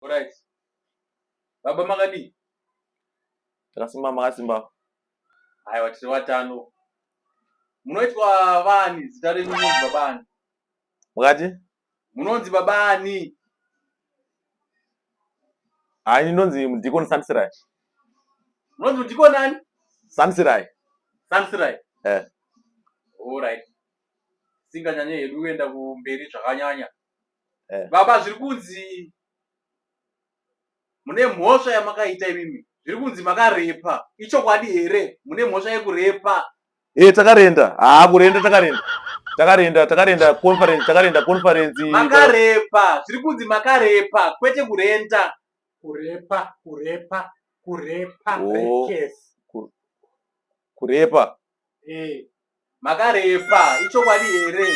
Alright. Baba makadii? Takasimba makasimba. Aiwa tiri vatano. Munoitwa vani zita renyu munonzi baba ani? Mukati? Munonzi baba ani? Hai ndinonzi mudikoni Sansirai. Munonzi mudikoni ani? Sansirai. Sansirai. Eh. Alright. Singanyanye hedu kuenda kumberi zvakanyanya. eh. baba zviri kunzi mune mhosva yamakaita imimi zviri kunzi makarepa ichokwadi here mune mhosva yekurepa e takarenda haa kurenda takarenda takarenda takarenda conference takarenda conference makarepa zviri kunzi makarepa kwete kurenda kurepa kurepa kurepa oh. Kurepa. Eh. Makarepa. Ichokwadi here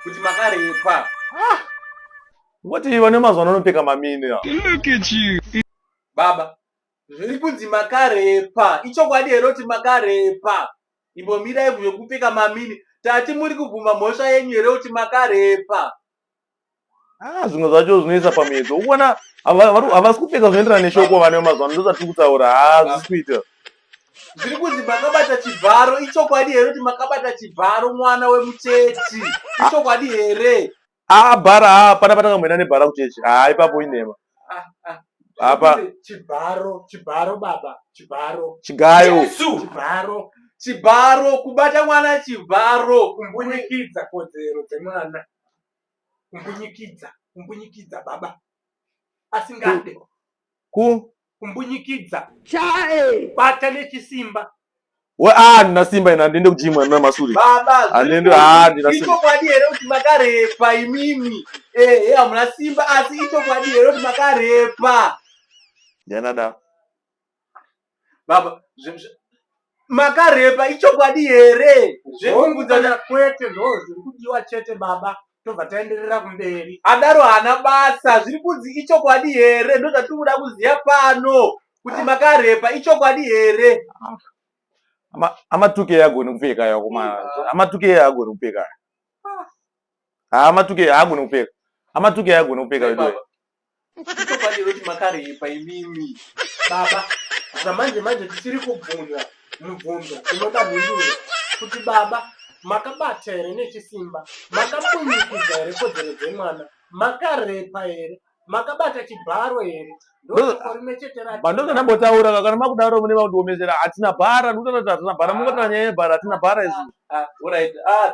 kuti makarepa. Ah. Ngoti vane mazuva anopfeka mamini. Look at you. Baba. Zviri kunzi makarepa. Ichokwadi here kuti makarepa. Imbomirai zvekupfeka mamini. Tati muri kubvuma mhosva yenyu here kuti makarepa. Ah, zvimwe zvacho zvinoisa pamiedzo ukuona havasi kupfeka zvinoenderana neshoko vane mazuva ano ndozvatiri kutaura hazvisi kuita zviri kunzi makabata chibharo ichokwadi here kuti makabata chibharo mwana wemuchechi ichokwadi here aa ah, bhara aa ah, pana patakamboenda nebhara kuchechi haa ah, ipapo inhema apa chibharo chibharo baba chibharo chigayo chibharo chibharo kubata mwana chibharo kumbunyikidza kodzero dzemwana kumbunyikidza kumbunyikidza baba asingade ku kumbunyikidza chae bata nechisimba we ah ndina simba ina ndiende kujimwa ndina masuri baba anende ah ndina simba ichokwadi here kuti makarepa imimi eh hey, hamuna simba asi ichokwadi here kuti makarepa nyanada baba makarepa ichokwadi here zvekumbudza kwete ndoo zviri kudiwa chete baba tobva taenderera kumberi adaro haana basa zviri kunzi ichokwadi here ndo zvatiri kuda kuziva pano kuti makarepa ichokwadi here amatuke agoni kupfeka yakomana amatuke agoni kupfeka haa matuke haagone kupeka amatuke haagone kupeka veduwe ndichokwadi here kuti makaripa imimi baba zvamanje manje tisiri kubvunza mubvunzo unoda mhinduro kuti baba makabata here nechisimba makamunyikidza here kodzero dzemwana makarepa here makabata chibharo here ndokorinocheteramandozva ndambotaura kakana makudaro mune vakundiomesera hatina bhara ndikutaura kuti hatina bhara mungotara nyaya yebhara hatina bhara izvi ah, ah, ah,